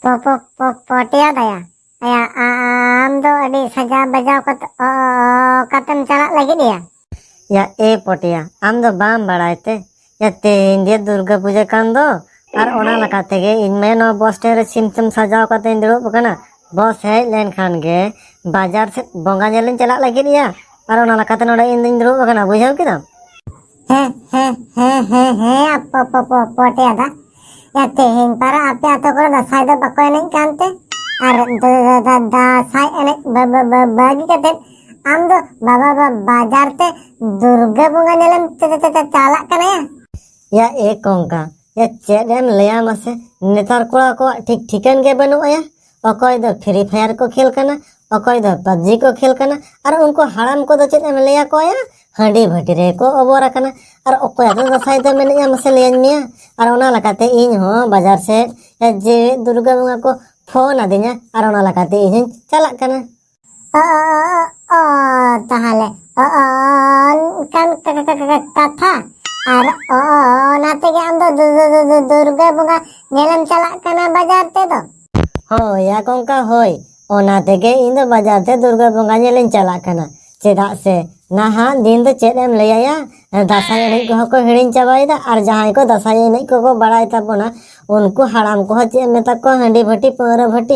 ᱯᱚᱯᱚᱠ ᱯᱚᱠ ᱯᱚᱴᱮᱭᱟ ᱫᱟᱭᱟ ᱟᱭᱟ ᱟᱢ ᱫᱚ ᱟᱹᱰᱤ ᱥᱟᱡᱟᱣ ᱵᱟᱡᱟᱣ ᱠᱟᱛᱮ ᱚ ᱠᱟᱛᱮᱢ ᱪᱟᱞᱟᱜ ᱞᱟᱹᱜᱤᱫ ᱮᱭᱟ ᱭᱟ ᱮ ᱯᱚᱴᱮᱭᱟ ᱟᱢ ᱫᱚ ᱵᱟᱢ ᱵᱟᱲᱟᱭ ᱛᱮ ᱛᱮᱦᱮᱧ ᱜᱮ ᱫᱩᱨᱜᱟ ᱯᱩᱡᱟᱹ ᱠᱟᱱ ᱫᱚ ᱟᱨ ᱚᱱᱟ ᱞᱮᱠᱟ ᱛᱮᱜᱮ ᱤᱧ ᱢᱟ ᱱᱚᱣᱟ ᱵᱚᱥ ᱥᱴᱮᱱᱰ ᱨᱮ ᱥᱤᱢ ᱥᱤᱢ ᱥᱟᱡᱟᱣ ᱠᱟᱛᱮᱧ ᱫᱩᱲᱩᱵ ᱟᱠᱟᱱᱟ ᱵᱚᱥ ᱦᱮᱡ ᱞᱮᱱᱠᱷᱟᱱ ᱜᱮ ᱵᱟᱡᱟᱨ ᱥᱮᱫ ᱵᱚᱸᱜᱟ ᱧᱮᱞᱤᱧ ᱪᱟᱞᱟᱜ ᱞᱟᱹᱜᱤᱫ ᱭᱟ ᱟᱨ ᱚᱱᱟ ᱞᱮᱠᱟᱛᱮ ᱱᱚᱰᱮ ᱤᱧ ᱫᱩᱧ ᱫᱩᱲᱩᱵ ᱟᱠᱟᱱᱟ ᱵᱩᱡᱷᱟᱹᱣ ᱠᱮᱫᱟᱢ ᱦᱮᱸ ᱦᱮᱸ ᱦᱮᱸ ᱦᱮᱸ ᱦᱮᱸ ᱯᱚ ᱯᱚ ᱯᱚ ᱯᱚᱴᱮ ᱫᱟ ᱭᱟ ᱛᱮᱦᱮᱧ ᱯᱟᱨᱟ ᱟᱯᱮ ᱟᱛᱳ ᱠᱚᱨᱮ ᱫᱟᱸᱥᱟᱭ ᱫᱚ ᱵᱟᱠᱚ ᱮᱱᱮᱡ ᱠᱟᱱᱛᱮ ᱟᱨ ᱫᱟᱸᱥᱟᱭ ᱮᱱᱮᱡ ᱵᱟᱹᱜᱤ ᱠᱟᱛᱮ ᱟᱢ ᱫᱚ ᱵᱟᱵᱟ ᱵᱟᱡᱟᱨ ᱛᱮ ᱫᱩᱨᱜᱟᱹ ᱵᱚᱸᱜᱟ ᱧᱮᱞᱮᱢ ᱪᱟᱞᱟᱜ ᱠᱟᱱᱟ ᱭᱟ ᱮ ᱠᱚᱝᱠᱟ ᱭᱟ ᱪᱮᱫ ᱮᱢ ᱞᱟᱹᱭᱟ ᱢᱟᱥᱮ ᱱᱮᱛᱟᱨ ᱠᱚᱲᱟ ᱠᱚᱣᱟᱜ ᱴᱷᱤᱠ ᱴᱷᱤᱠᱟᱹᱱ ᱜᱮ ᱵᱟᱹᱱᱩᱜᱼᱟ ᱚᱠᱚᱭ ᱫᱚ ᱯᱷᱨᱤ ᱯᱷᱟᱭᱟᱨ ᱠᱚ ᱠᱷᱮᱞ ᱠᱟᱱᱟ ᱚᱠᱚᱭ ᱫᱚ ᱯᱟᱵᱡᱤ ᱠᱚ ᱠᱷᱮᱞ ᱠᱟᱱᱟ ᱟᱨ ᱩᱱᱠᱩ ᱦᱟᱲᱟᱢ ᱠᱚᱫᱚ ᱪᱮᱫ ᱮᱢ ᱞᱟᱹᱭᱟ ᱠᱚᱭᱟ ᱦᱟᱺᱰᱤ ᱵᱷᱟᱹᱴᱤ ᱨᱮᱠᱚ ᱚᱵᱚᱨ ᱟᱠᱟᱱᱟ ᱟᱨ ᱚᱠᱚᱭ ᱫᱚ ᱫᱟᱸᱥᱟᱭ ᱫᱚ ᱢᱮᱱᱮᱫᱼᱟ ᱢᱟᱥᱮ ᱞᱟᱹᱭᱟᱹᱧ ᱢᱮᱭᱟ ᱟᱨ ᱚᱱᱟ ᱞᱮᱠᱟᱛᱮ ᱤᱧ ᱦᱚᱸ ᱵᱟᱡᱟᱨ ᱥᱮᱫ ᱡᱮᱣᱮᱫ ᱫᱩᱨᱜᱟ ᱵᱚᱸᱜᱟ ᱠᱚ ᱯᱷᱳᱱ ᱟᱹᱫᱤᱧᱟ ᱟᱨ ᱚᱱᱟ ᱞᱮᱠᱟᱛᱮ ᱤᱧ ᱦᱚᱸᱧ ᱪᱟᱞᱟᱜ ᱠᱟᱱᱟ ᱛᱟᱦᱚᱞᱮ ᱚᱱᱠᱟᱱ ᱠᱟᱛᱷᱟ ᱟᱨ ᱚᱱᱟ ᱛᱮᱜᱮ ᱟᱢ ᱫᱚ ᱫᱩᱨᱜᱟᱹ ᱵᱚᱸᱜᱟ ᱧᱮᱞᱮᱢ ᱪᱟᱞᱟᱜ ᱠᱟᱱᱟ ᱵᱟᱡᱟᱨ ᱛᱮᱫᱚ ᱦᱳᱭ ᱭᱟ ᱠᱚᱝᱠᱟ ᱦᱳᱭ ᱚᱱᱟ ᱛᱮᱜᱮ ᱤᱧ ᱫᱚ ᱵᱟᱡᱟᱨ ᱛᱮ ᱫᱩᱨᱜᱟᱹ ᱵᱚᱸᱜᱟ ᱧᱮᱞᱤᱧ ᱪᱟᱞᱟᱜ ᱠᱟᱱᱟ ᱪᱮᱫᱟᱜ ᱥᱮ ᱱᱟᱦᱟᱜ ᱫᱤᱱ ᱫᱚ ᱪᱮᱫ ᱮᱢ ᱞᱟᱹᱭᱟᱭᱟ ᱫᱟᱸᱥᱟᱭ ᱮᱱᱮᱡ ᱠᱚᱦᱚᱸ ᱠᱚ ᱦᱤᱲᱤᱧ ᱪᱟᱵᱟᱭᱮᱫᱟ ᱟᱨ ᱡᱟᱦᱟᱸᱭ ᱠᱚ ᱫᱟᱸᱥᱟᱭ ᱮᱱᱮᱡ ᱠᱚᱠᱚ ᱵᱟᱲᱟᱭ ᱛᱟᱵᱚᱱᱟ ᱩᱱᱠᱩ ᱦᱟᱲᱟᱢ ᱠᱚᱦᱚᱸ ᱪᱮᱫ ᱮᱢ ᱢᱮᱛᱟ ᱠᱚᱣᱟ ᱦᱟᱺᱰᱤ ᱵᱷᱟᱹᱴᱤ ᱯᱟᱹᱣᱨᱟᱹ ᱵᱷᱟᱹᱴᱤ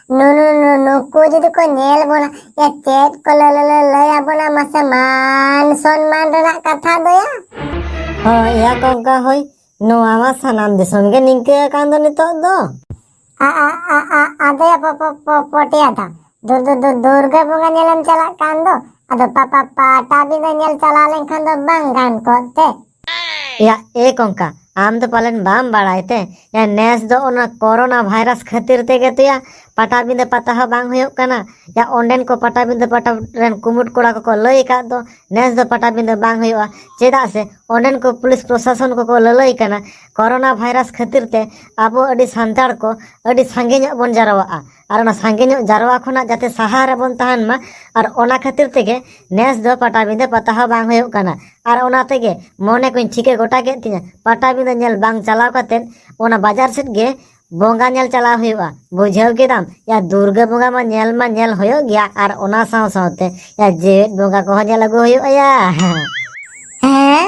ᱱᱩ ᱱᱩ ᱱᱩ ᱱᱩᱠᱩ ᱡᱩᱫᱤ ᱠᱚ ᱧᱮᱞ ᱵᱚᱱᱟ ᱭᱟ ᱪᱮᱫ ᱠᱚ ᱞᱟᱹ ᱞᱟᱹ ᱞᱟᱹ ᱞᱟᱹᱭ ᱟᱵᱚᱱᱟ ᱢᱟᱥᱮ ᱢᱟᱱ ᱥᱚᱱᱢᱟᱱ ᱨᱮᱱᱟᱜ ᱠᱟᱛᱷᱟ ᱫᱚ ᱭᱟ ᱦᱳᱭ ᱭᱟ ᱠᱚᱝᱠᱟ ᱦᱳᱭ ᱱᱚᱣᱟ ᱢᱟ ᱥᱟᱱᱟᱢ ᱫᱤᱥᱚᱢ ᱜᱮ ᱱᱤᱝᱠᱟᱹ ᱟᱠᱟᱱ ᱫᱚ ᱱᱤᱛᱚᱜ ᱫᱚ ᱟ ᱟ ᱟ ᱟ ᱟᱫᱚ ᱭᱟ ᱯᱚ ᱯᱚ ᱯᱚ ᱯᱚᱴᱭᱟ ᱫᱟ ᱫᱩ ᱫᱩ ᱫᱩ ᱫᱩᱨᱜᱟᱹ ᱵᱚᱸᱜᱟ ᱧᱮᱞᱮᱢ ᱪᱟᱞᱟᱜ ᱠᱟᱱ ᱫᱚ ᱟᱫᱚ ᱯᱟᱯᱟ ᱯᱟᱴᱟᱵᱤᱸᱫᱟᱹ ᱧᱮᱞ ᱪᱟᱞᱟᱣ ᱞᱮᱱᱠᱷᱟᱱ ᱫᱚ ᱵᱟᱝ ᱜᱟᱱ ᱠᱚᱜ ᱛᱮ ᱭᱟ ᱮ ᱠᱚᱝᱠᱟ ᱟᱢ ᱫᱚ ᱯᱟᱞᱮᱱ ᱵᱟᱢ ᱵᱟᱲᱟᱭ ᱛᱮ ᱭᱟ ᱱᱮᱥ ᱫᱚ ᱚᱱᱟ ᱠᱚᱨᱳᱱᱟ ᱵᱷᱟᱭᱨᱟᱥ ᱠᱷᱟᱹᱛᱤᱨ ᱛᱮᱜᱮ ᱛᱚ ᱭᱟ ᱯᱟᱴᱟᱵᱤᱸᱫᱟᱹ ᱯᱟᱛᱟ ᱦᱚᱸ ᱵᱟᱝ ᱦᱩᱭᱩᱜ ᱠᱟᱱᱟ ᱭᱟ ᱚᱸᱰᱮᱱ ᱠᱚ ᱯᱟᱴᱟᱵᱤᱸᱫᱟᱹ ᱯᱟᱴᱟ ᱨᱮᱱ ᱠᱩᱢᱩᱴ ᱠᱚᱲᱟ ᱠᱚᱠᱚ ᱞᱟᱹᱭ ᱟᱠᱟᱫ ᱫᱚ ᱱᱮᱥ ᱫᱚ ᱯᱟᱴᱟᱵᱤᱸᱫᱟᱹ ᱵᱟᱝ ᱦᱩᱭᱩᱜᱼᱟ ᱪᱮᱫᱟᱜ ᱥᱮ ᱚᱸᱰᱮᱱ ᱠᱚ ᱯᱩᱞᱤᱥ ᱯᱨᱚᱥᱟᱥᱚᱱ ᱠᱚᱠᱚ ᱞᱟᱹᱞᱟᱹᱭ ᱠᱟᱱᱟ ᱠᱚᱨᱳᱱᱟ ᱵᱷᱟᱭᱨᱟᱥ ᱠᱷᱟᱹᱛᱤᱨ ᱛᱮ ᱟᱵᱚ ᱟᱹᱰᱤ ᱥᱟᱱᱛᱟᱲ ᱠᱚ ᱟᱹᱰᱤ ᱥᱟᱸᱜᱮ ᱧᱚᱜ ᱵᱚᱱ ᱡᱟᱨᱣᱟᱜᱼᱟ ᱟᱨ ᱚᱱᱟ ᱥᱟᱸᱜᱮ ᱧᱚᱜ ᱡᱟᱨᱣᱟ ᱠᱷᱚᱱᱟᱜ ᱡᱟᱛᱮ ᱥᱟᱦᱟ ᱨᱮᱵᱚᱱ ᱛᱟᱦᱮᱱ ᱢᱟ ᱟᱨ ᱚᱱᱟ ᱠᱷᱟᱹᱛᱤᱨ ᱛᱮᱜᱮ ᱱᱮᱥ ᱫᱚ ᱯᱟᱴᱟᱵᱤᱸᱫᱟᱹ ᱯᱟᱛᱟ ᱦᱚᱸ ᱵᱟᱝ ᱦᱩᱭᱩᱜ ᱠᱟᱱᱟ ᱟᱨ ᱚᱱᱟ ᱛᱮᱜᱮ ᱢᱚᱱᱮ ᱠᱚᱧ ᱴᱷᱤᱠᱟᱹ ᱜᱚᱴᱟ ᱠᱮᱫ ᱛᱤᱧᱟᱹ ᱯᱟᱴᱟᱵᱤᱸᱫᱟᱹ ᱧᱮᱞ ᱵᱟᱝ ᱪᱟᱞᱟᱣ ᱠᱟᱛᱮᱫ ᱚᱱᱟ ᱵᱟᱡᱟᱨ ᱥᱮᱫ ᱜᱮ ᱵᱚᱸᱜᱟ ᱧᱮᱞ ᱪᱟᱞᱟᱣ ᱦᱩᱭᱩᱜᱼᱟ ᱵᱩᱡᱷᱟᱹᱣ ᱠᱮᱫᱟᱢ ᱭᱟ ᱫᱩᱨᱜᱟᱹ ᱵᱚᱸᱜᱟ ᱢᱟ ᱧᱮᱞ ᱢᱟ ᱧᱮᱞ ᱦᱩᱭᱩᱜ ᱜᱮᱭᱟ ᱟᱨ ᱚᱱᱟ ᱥᱟᱶ ᱥᱟᱶᱛᱮ ᱭᱟ ᱡᱮᱣᱮᱫ ᱵᱚᱸᱜᱟ ᱠᱚᱦᱚᱸ ᱧᱮᱞ ᱟᱹᱜᱩ ᱦᱩᱭᱩᱜᱼᱟ ᱭᱟ ᱦᱮᱸ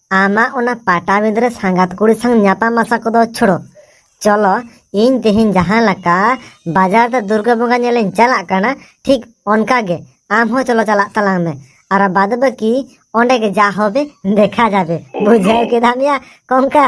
ᱟᱢᱟᱜ ᱚᱱᱟ ᱯᱟᱴᱟᱵᱤᱸᱫᱟᱹ ᱨᱮ ᱥᱟᱸᱜᱟᱛ ᱠᱩᱲᱤ ᱥᱟᱶ ᱧᱟᱯᱟᱢ ᱟᱥᱟ ᱠᱚᱫᱚ ᱪᱷᱚᱲᱚ ᱪᱚᱞᱚ ᱤᱧ ᱛᱮᱦᱮᱧ ᱡᱟᱦᱟᱸ ᱞᱮᱠᱟ ᱵᱟᱡᱟᱨ ᱛᱮ ᱫᱩᱨᱜᱟᱹ ᱵᱚᱸᱜᱟ ᱧᱮᱞᱤᱧ ᱪᱟᱞᱟᱜ ᱠᱟᱱᱟ ᱴᱷᱤᱠ ᱚᱱᱠᱟ ᱜᱮ ᱟᱢ ᱦᱚᱸ ᱪᱚᱞᱚ ᱪᱟᱞᱟᱜ ᱛᱟᱞᱟᱝ ᱢᱮ ᱟᱨ ᱵᱟᱫ ᱵᱟᱹᱠᱤ ᱚᱸᱰᱮ ᱜᱮ ᱡᱟ ᱦᱚᱵᱮ ᱫᱮᱠᱷᱟ ᱡᱟᱵᱮ ᱵᱩᱡᱷᱟᱹᱣ ᱠᱮᱫᱟᱢ ᱭᱟ ᱠᱚᱝᱠᱟ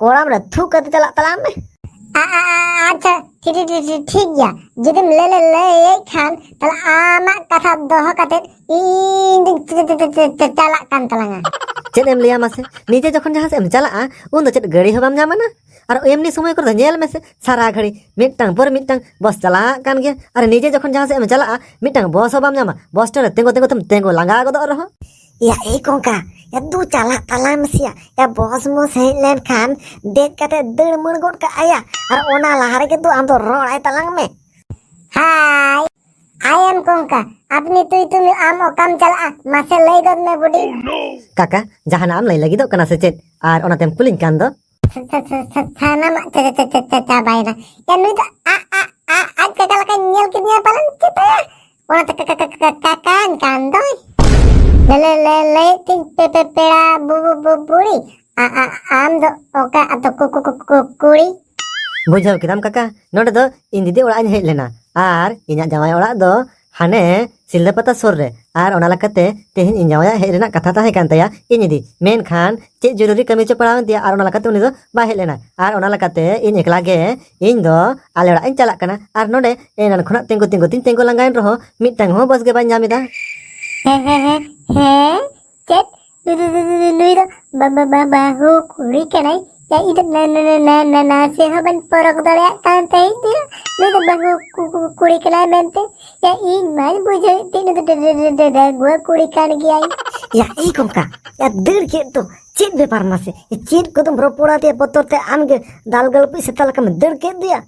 ᱠᱚᱲᱟᱢ ᱨᱮ ᱛᱷᱩ ᱠᱟᱛᱮ ᱪᱟᱞᱟᱜ ᱛᱟᱞᱟᱝ ᱢᱮ ᱟᱪᱪᱷᱟ ᱴᱷᱤᱠ ᱴᱷᱤᱠ ᱴᱷᱤᱠ ᱴᱷᱤᱠ ᱜᱮᱭᱟ ᱡᱩᱫᱤᱢ ᱞᱟᱹᱭ ᱞᱟᱹᱭ ᱞᱟᱹᱭᱮᱫ ᱠᱷᱟᱱ ᱛᱟᱦᱞᱮ ᱟᱢᱟᱜ ᱠᱟᱛᱷᱟ ᱫᱚᱦᱚ ᱠᱟᱛᱮ ᱤᱧ ᱫᱩᱧ ᱪᱟ- ᱪᱟ- ᱪᱟ- ᱪᱟ- ᱪᱟ- ᱪᱟᱞᱟᱜ ᱠᱟᱱ ᱛᱟᱞᱟᱝᱟ ᱪᱮᱫ ᱮᱢ ᱞᱟᱹᱭᱟ ᱢᱟᱥᱮ ᱱᱤᱡᱮ ᱡᱚᱠᱷᱚᱱ ᱡᱟᱦᱟᱸ ᱥᱮᱫ ᱮᱢ ᱪᱟᱞᱟᱜᱼᱟ ᱩᱱ ᱫᱚ ᱪᱮᱫ ᱜᱟᱹᱲᱤ ᱦᱚᱸ ᱵᱟᱢ ᱧᱟᱢᱟ ᱱᱟ ᱟᱨ ᱮᱢᱱᱤ ᱥᱚᱢᱚᱭ ᱠᱚᱨᱮ ᱫᱚ ᱧᱮᱞ ᱢᱮᱥᱮ ᱥᱟᱨᱟ ᱜᱷᱟᱹᱲᱤ ᱢᱤᱫᱴᱟᱝ ᱯᱚᱨ ᱢᱤᱫᱴᱟᱝ ᱵᱚᱥ ᱪᱟᱞᱟᱜ ᱠᱟᱱ ᱜᱮᱭᱟ ᱟᱨ ᱱᱤᱡᱮ ᱡᱚᱠᱷᱚᱱ ᱡᱟᱦᱟᱸ ᱥᱮᱫ ᱮᱢ ᱪᱟᱞᱟᱜᱼᱟ ᱢᱤᱫᱴᱟᱝ ᱵᱚᱥ ᱦᱚᱸ ᱵᱟᱢ ᱧᱟᱢᱟ ᱵᱚᱥ ᱴᱷᱮᱱ ᱨᱮ ᱛᱤᱸᱜᱩ ᱛᱤᱸᱜᱩ ᱛᱮᱢ ᱛᱤᱸᱜᱩ ᱞᱟᱸᱜᱟ ᱜᱚᱫᱚᱜ ᱨᱮᱦᱚᱸ ᱭᱟ ᱮ ᱠᱚᱝᱠᱟ ᱭᱟ ᱫᱩ ᱪᱟᱞᱟᱜ ᱛᱟᱞᱟᱝ ᱢᱮᱥᱮᱭᱟ ᱭᱟ ᱵᱚᱥ ᱢᱚᱥ ᱦᱮᱡ ᱞᱮᱱᱠᱷᱟᱱ ᱫᱮᱡ ᱠᱟᱛᱮ ᱫᱟᱹᱲ ᱢᱟᱹᱲ ᱜᱚᱫ ᱠᱟᱜ ᱟᱭᱟ ᱟᱨ ᱚᱱᱟ ᱞᱟᱦᱟ ᱨᱮᱜᱮ ᱫᱩ ᱟᱢ ᱫᱚ ᱨᱚᱲ ᱟᱭ ᱛᱟᱞᱟᱝ ᱢᱮ ᱦᱟᱭ ᱟᱭ ᱮᱢ ᱠᱚᱝᱠᱟ ᱟᱯᱱᱤ ᱛᱩᱭ ᱛᱩᱢᱤ ᱟᱢ ᱚᱠᱟᱢ ᱪᱟᱞᱟᱜᱼᱟ ᱢᱟᱥᱮ ᱞᱟᱹᱭ ᱜᱚᱫ ᱢᱮ ᱵᱩᱰᱤ ᱠᱟᱠᱟ ᱡᱟᱦᱟᱱᱟᱜ ᱮᱢ ᱞᱟᱹᱭ ᱞᱟᱹᱜᱤᱫᱚᱜ ᱠᱟᱱᱟ ᱥᱮ ᱪᱮᱫ ᱟᱨ ᱚᱱᱟᱛᱮᱢ ᱠᱩᱞᱤᱧ ᱠᱟᱱ ᱫᱚ ᱥᱟᱱᱟᱢᱟᱜ ᱪᱟᱵᱟᱭᱮᱱᱟ ᱭᱟ ᱱᱩᱭ ᱫᱚ ᱟᱜ ᱟᱜ ᱟᱜ ᱟᱡ ᱠᱟᱠᱟ ᱞᱮᱠᱟᱧ ᱧᱮᱞ ᱠᱮᱫᱮᱭᱟ ᱯᱟᱞᱮᱱ ᱪᱮᱛᱟᱭᱟ ᱚᱱᱟᱛᱮ ᱠᱟᱠᱟᱧ ᱠᱟᱱ ᱫᱚᱭ ᱞᱮ ᱞᱮ ᱞᱮ ᱛᱤᱧ ᱯᱮ ᱯᱮ ᱯᱮᱲᱟ ᱵᱩ ᱵᱩ ᱵᱩ ᱵᱩᱲᱤ ᱟ ᱟ ᱟᱢ ᱫᱚ ᱚᱠᱟ ᱟᱛᱚ ᱠᱩ ᱠᱩ ᱠᱩ ᱠᱩᱲᱤ ᱵᱩᱡᱷᱟᱹᱣ ᱠᱮᱫᱟᱢ ᱠᱟᱠᱟ ᱱᱚᱰᱮ ᱫᱚ ᱤᱧ ᱫᱤᱫᱤ ᱚᱲᱟᱜ ᱤᱧ ᱦᱮᱡ ᱞᱮᱱᱟ ᱟᱨ ᱤᱧᱟᱹᱜ ᱡᱟᱶᱟᱭ ᱚᱲᱟᱜ ᱫᱚ ᱦᱟᱱᱮ ᱥᱤᱞᱫᱟᱹ ᱯᱟᱛᱟ ᱥᱩᱨ ᱨᱮ ᱟᱨ ᱚᱱᱟ ᱞᱮᱠᱟᱛᱮ ᱛᱮᱦᱮᱧ ᱤᱧ ᱡᱟᱶᱟᱭᱟᱜ ᱦᱮᱡ ᱨᱮᱱᱟᱜ ᱠᱟᱛᱷᱟ ᱛᱟᱦᱮᱸ ᱠᱟᱱ ᱛᱟᱭᱟ ᱤᱧ ᱤᱫᱤ ᱢᱮᱱᱠᱷᱟᱱ ᱪᱮᱫ ᱡᱚᱨᱩᱨᱤ ᱠᱟᱹᱢᱤ ᱪᱚ ᱯᱟᱲᱟᱣᱮᱱ ᱛᱟᱭᱟ ᱟᱨ ᱚᱱᱟ ᱞᱮᱠᱟᱛᱮ ᱩᱱᱤ ᱫᱚ ᱵᱟᱭ ᱦᱮᱡ ᱞᱮᱱᱟ ᱟᱨ ᱚᱱᱟ ᱞᱮᱠᱟᱛᱮ ᱤᱧ ᱮᱠᱞᱟ ᱜᱮ ᱤᱧ ᱫᱚ ᱟᱞᱮ ᱚᱲᱟᱜ ᱤᱧ ᱪᱟᱞᱟᱜ ᱠᱟᱱᱟ ᱟᱨ ᱱᱚᱰᱮ ᱮᱱᱟᱱ ᱠᱷᱚᱱᱟᱜ ᱛᱤᱸᱜᱩ ᱛᱤᱸᱜᱩ ᱛᱤᱧ ᱛᱤᱸᱜᱩ ᱞᱟᱸᱜᱟᱭᱮᱱ ᱨᱮᱦᱚᱸ ᱢᱤᱫᱴᱟᱝ ᱦᱚᱸ ᱵᱟᱥ ᱜᱮ ᱵᱟᱹᱧ ᱧᱟᱢ ᱮᱫᱟ ᱦᱮᱸ ᱦᱮᱸ ᱦᱮᱸ ᱦᱮᱸ ᱪᱮᱫ ᱱᱩᱭ ᱫᱚ ᱵᱟᱵᱟ ᱵᱟᱵᱟ ᱦᱳ ᱠᱩᱲᱤ ᱠᱟᱱᱟᱭ ᱭᱟ ᱤᱧ ᱫᱚ ᱱᱟ ᱱᱟ ᱱᱟ ᱱᱟ ᱱᱟ ᱪᱮ ᱦᱚᱸ ᱵᱟᱹᱧ ᱯᱚᱨᱚᱠ ᱫᱟᱲᱮᱭᱟᱜ ᱠᱟᱱ ᱛᱟᱦᱮᱸᱫ ᱛᱮ ᱱᱩᱭ ᱫᱚ ᱵᱟᱹᱦᱩ ᱠᱩᱲᱤ ᱠᱟᱱᱟᱭ ᱢᱮᱱᱛᱮ ᱭᱟ ᱤᱧ ᱢᱟᱧ ᱵᱩᱡᱷᱟᱹᱣᱮᱫ ᱛᱮ ᱱᱩᱭ ᱫᱚ ᱰᱟᱹᱜᱩᱣᱟᱹ ᱠᱩᱲᱤ ᱠᱟᱱ ᱜᱮᱭᱟᱭ ᱭᱟ ᱤᱧ ᱠᱚᱢᱠᱟ ᱭᱟ ᱫᱟᱹᱲ ᱠᱮᱫ ᱫᱚ ᱪᱮᱫ ᱵᱮᱯᱟᱨ ᱢᱟᱥᱮ ᱪᱮᱫ ᱠᱚᱫᱚᱢ ᱨᱚᱯᱚᱲᱟ ᱛᱮ ᱵᱚᱛᱚᱨ ᱛᱮ ᱟᱢᱜᱮ ᱫᱟᱞ ᱜᱟᱞᱯᱤᱡ ᱥᱮᱛᱟ ᱞᱮᱠᱟᱢ ᱫᱟᱹᱲ ᱠᱮᱫ ᱫᱚᱭᱟ